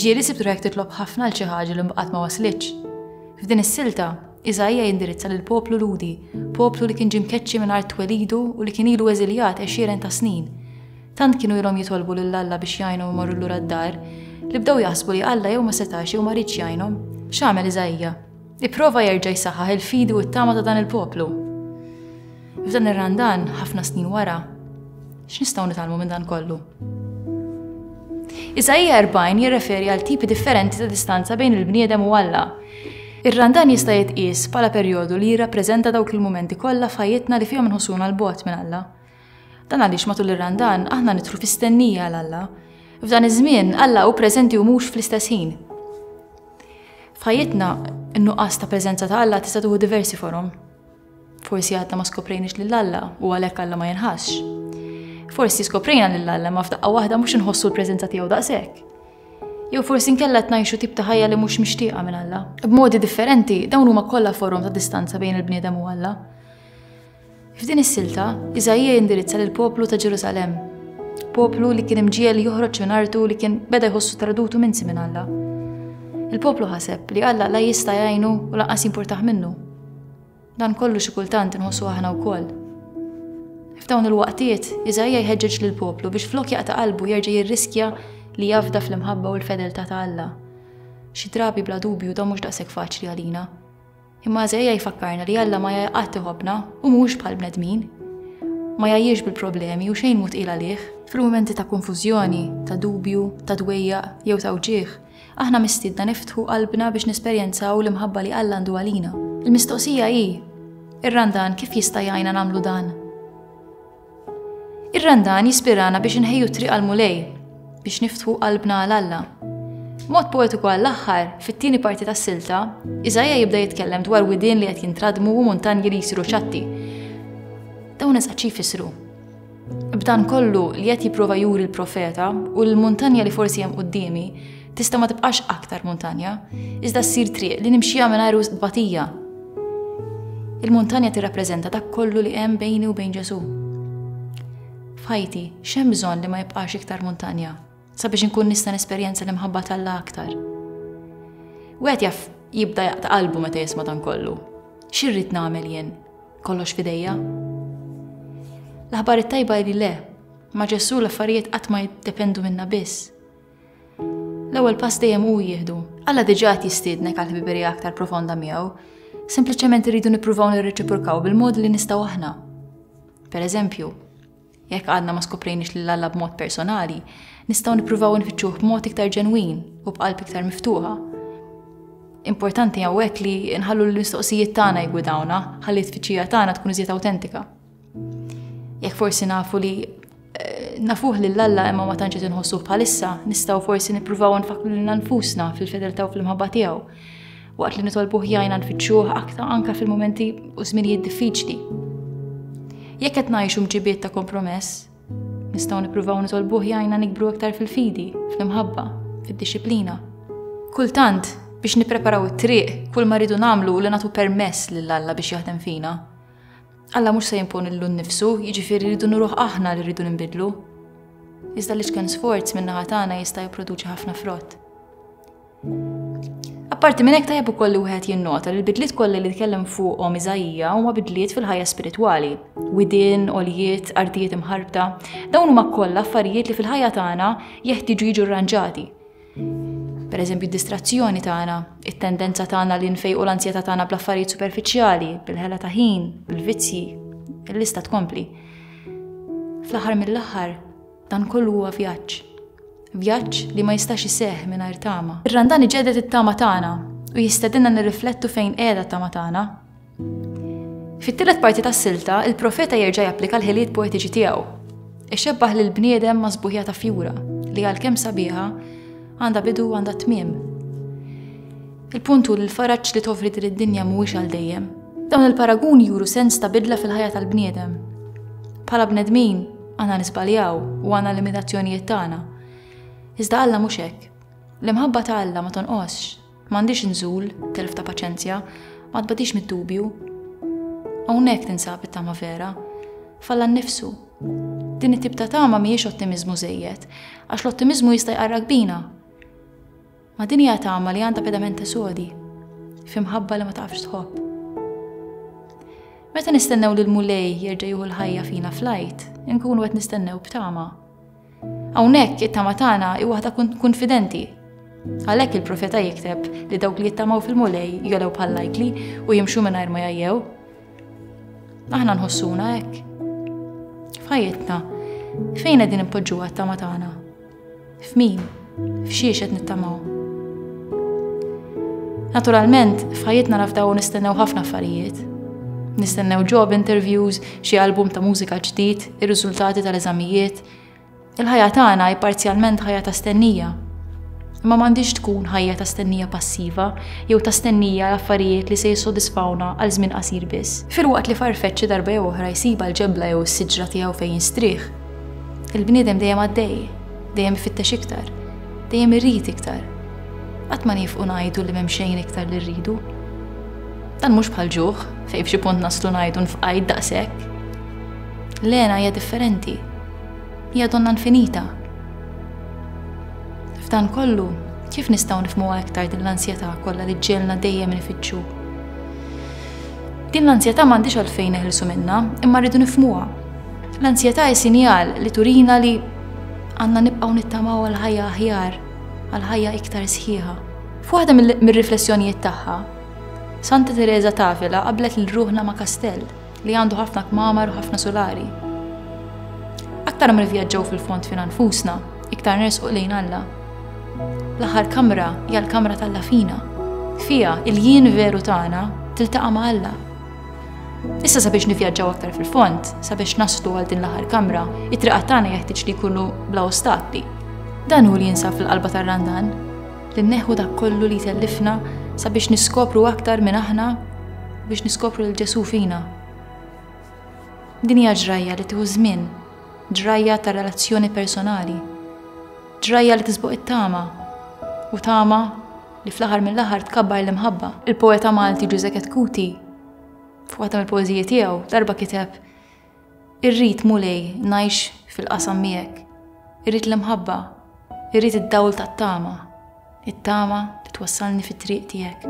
Ġieli sibtu jekk titlob ħafna l xi ħaġa li mbaqgħet ma waslitx. F'din is-silta, Iżajja jindirizza lil poplu Ludi, poplu li kien ġie mkeċċi mingħajr twelidu u li kien ilu eżiljat għexieren ta' snin. Tant kienu ilhom jitolbu lil Alla biex jgħinhom imorru lura d-dar, li bdew jaħsbu li Alla jew ma setax jew ma riedx jgħinhom. X'għamel Iżaija? Ipprova jerġa' jsaħħaħ il-fidi u t-tama ta' dan il-poplu. F'dan ir-Randan, ħafna snin wara, x'nistgħu nitgħallmu minn dan kollu? Iżaija 40 jirreferi għal tipi differenti ta' distanza bejn il-bniedem u Alla. Ir-Randan jista' jitqies bħala perjodu li jirrappreżenta dawk il-mumenti kollha f'ħajjitna li fihom nħossuna l-bogħod minn Alla. Dan għaliex matul ir-Randan aħna nidħlu fi stennija għal Alla. F'dan iż-żmien Alla hu preżenti u mhux fl-istess ħin. F'ħajjitna n-nuqqas ta' preżenza ta' Alla tista' tuħu diversi forom. Forsi għadna ma skoprejniex lil Alla u għalhekk Alla ma jinħassx. Forsi skoprejna lil Alla ma f'daqqa waħda mhux inħossu l-preżenza tiegħu daqshekk. Jew forsi nkella tnajxu tip ta' ħajja li mhux mixtieqa minn Alla. B'modi differenti, dawn huma kollha forom ta' distanza bejn il-bniedem u Alla. F'din is-silta, Iżaija jindirizza lill-poplu ta' Ġerusalemm, poplu li kien imġiel joħroġ minn artu li kien beda jħossu tradutu minsi minn Alla. Il-poplu ħaseb li Alla la jista' jgħinu u lanqas jimpurtaħ minnu. Dan kollu xi kultant inħossu aħna wkoll. F'dawn il-waqtiet, Iżajja jħeġġeġ lil poplu biex flok jaqta' qalbu jerġa' jirriskja li jafda fl-imħabba u l-fedeltà ta' Alla. Xi drabi bla dubju da mhux daqshekk faċli għalina. Imma Iżejja jfakkarna li Alla ma jgħi qatt iħobbna u mhux bħal bnedmin. Ma jgħajjiex bil-problemi u xejn mhu tqil għalih. Fil-mumenti ta' konfużjoni, ta' dubju, ta' dwejja jew ta' wġigħ, aħna mistiedna niftħu qalbna biex nesperjenzaw l-imħabba li Alla għandu għalina. Il-mistoqsija hi, ir-Randan kif jista' jgħinna nagħmlu dan? Ir-Randan jispirana biex inħejju triq għal Mulej, biex niftħu qalbna għal Alla. Mod poetiku għall-aħħar, fit-tieni parti tas-silta, Iżajja jibda jitkellem dwar widien li qed jintradmu u muntanji li jsiru ċatti. Dawn eżatt xi jfissru. B'dan kollu li qed jipprova juri l-profeta u l-muntanja li forsi hemm quddiemi, Tista' ma tibqax aktar muntanja, iżda ssir triq li nimxija mingħajr wisq batija. Il-muntanja tirrappreżenta dak kollu li hemm bejni u bejn Ġesu. F'ħajti, x'hemm bżonn li ma jibqax iktar muntanja, sabiex inkun nista' nesperjenza l-imħabba tal-la aktar. Wieħed jaf jibda jaqta' qalbu meta jisma' dan kollu. X'irrid nagħmel jien? Kollox fidejja? L-aħbar it-tajba li le, ma' Ġesu l-affarijiet qatt ma jiddependu minna biss L-ewwel pass dejjem hu jieħdu. Alla diġà qed jistiednek għal ħbiberija aktar profonda miegħu. Sempliċement irridu nippruvaw nirreċiprokaw bil-mod li nistgħu aħna. Per eżempju, jekk għadna ma skoprejniex lil Alla b'mod personali, nistgħu nippruvaw nfittxuh b'mod iktar ġenwin u b'qalb iktar miftuħa. Importanti hawnhekk li nħallu l-mistoqsijiet tagħna jgwidawna, ħalli t-tfittxija tagħna tkun iżjed awtentika. Jekk forsi nafu li eh, nafuh lil Alla imma ma tantx inħossu bħalissa, nistgħu forsi nippruvaw nfakru lil nfusna fil-fedeltà u fl-imħabba tiegħu. Waqt li nitolbuh jgħinna nfittxuh aktar anke fil-momenti u żminijiet diffiċli. Jekk qed ngħixu mġibiet ta' kompromess, Nistgħu nippruvaw nitolbuh jgħinna nikbru iktar fil-fidi, fl-imħabba, fid-disciplina. Kultant, biex nippreparaw it-triq, kull ma rridu nagħmlu li nagħtu permess lil Alla biex jaħdem fina. Alla mhux se jimponillu nnifsu, jiġifieri rridu nuruh aħna li rridu ninbidlu. Iżda li xken sforz minn naħa tagħna jista' jipproduċi ħafna frott. Apparti minn hekk tajjeb ukoll li wieħed jinnota li l-bidliet kollha li tkellem fuqhom Iżajija huma bidliet fil-ħajja spiritwali, widien, oljiet, artijiet imħarbta, dawn huma kollha affarijiet li fil-ħajja tagħna jeħtieġu jiġu rranġati. Pereżempju d-distrazzjoni tagħna, it-tendenza tagħna li nfejqu l-anzjetà tagħna bl-affarijiet superfiċjali, bil-ħela ta' ħin, bil-vizzji, il-lista tkompli. Fl-aħħar mill-aħħar, dan kollu huwa vjaġġ. Vjaġġ li ma jistax iseħħ mingħajr tama. Ir-Randan iġedet it-tama tagħna u jistedinna nirriflettu fejn qiegħda t-tama tagħna Fit-tielet parti tas-silta, il-profeta jerġa' japplika l-ħiliet poetiċi tiegħu. Ixebbaħ lil bniedem ma' sbuħja ta' fjura li għalkemm sabiħa għandha bidu u għandha tmiem. Il-punt hu li l-faraġġ li tofri din id-dinja mhuwiex għal dejjem. Dawn il-paraguni juru sens ta' bidla fil-ħajja tal-bniedem. Bħala bnedmin, għandna nisbaljaw u għandna limitazzjonijiet tagħna. Iżda Alla mhux hekk. L-imħabba ta' Alla ma tonqosx, M'għandix inżul, telf ta' paċenzja, ma tbadix mid-dubju. Hawnhekk tinsab it-tama vera, falla nnifsu. Din it-tip ta' tama mhijiex ottimiżmu żejjed, għax l-ottimiżmu jista' jqarrak bina. Ma din hija tama li għandha pedamenta sodi, fimħabba li ma tafx tħobb. Meta nistennew li l-Mulej jerġa' jieħu l-ħajja fina flajt, inkunu qed nistennew b'tama. Hawnhekk it-tama tagħna hi waħda kunfidenti. Għalhekk il-profeta jikteb li dawk li jittamaw fil-Mulej jolew bħal lajkli u jimxu mingħajr ma jajjew. Aħna nħossuna hekk. F'ħajjitna, fejn qegħdin impoġġuha t-tama tagħna? F'min? F'xiex qed nittamaw? Naturalment, f'ħajjitna nafdaw nistennew ħafna affarijiet. Nistennew job interviews, xi album ta' mużika ġdid, ir-riżultati tal-eżamijiet. Il-ħajja tagħna hi parzjalment ħajja ta' stennija. Imma m'għandix tkun ħajja ta' stennija passiva jew ta' stennija l-affarijiet li se jissodisfawna għal żmien qasir biss. Filwaqt li farfeċ xi darba jew oħra jsib għal ġebla jew s-siġra tiegħu fejn jistrieħ, il-bniedem dejjem għaddej dejjem ifittex iktar, dejjem irid iktar. Qatt ma nifqu ngħidu li m'hemm xejn iktar li rridu. Dan mhux bħal ġuħ, fejn f'xi punt naslu ngħidu nfqajt daqshekk. Lena hija differenti. Hija donna infinita. F'dan kollu, kif nistgħu nifmu iktar din l-ansjetà kollha li ġġelna dejjem nifittxu? Din l-ansjetà m'għandix għalfejn neħilsu minnha, imma rridu nifmuha. L-ansjetà hi sinjal li turina li Għandna nibqgħu nittamaw għal ħajja aħjar, għal ħajja iktar sħiħa. F'waħda mir-riflessjonijiet tagħha, Santa Teresa Tavila qablet lil ruħna ma' kastell li għandu ħafna kmamar u ħafna solari. Aktar ma nivvjaġġaw fil-fond fina nfusna, iktar nersquq lejn Alla. L-aħħar kamra hija l-kamra tal-lafina. Fija, il-jien veru tagħna tiltaqa' ma' Alla. Issa sabiex nivjaġġaw aktar fil-fond, sabiex naslu għal din l-aħħar kamra, it-triqat tagħna jeħtieġ li jkunu bla ostakli. Dan hu li jinsab fil-qalba tar-randan, li neħu dak kollu li tellifna sabiex niskopru aktar minn aħna biex niskopru l ġesu fina. Din hija ġrajja li tieħu żmien, ġrajja ta' relazzjoni personali, ġrajja li tisbuq it-tama u tama li fl-aħħar mill-aħħar tkabbar l-imħabba. Il-poeta Malti Ġuże Ketkuti, f'waħda mill-poeżiji tiegħu, darba kiteb Irrid mulej ngħix fil-qasam miegħek, irrid l-imħabba, irrid id-dawl tat-tama, it-tama li twassalni fit-triq tiegħek.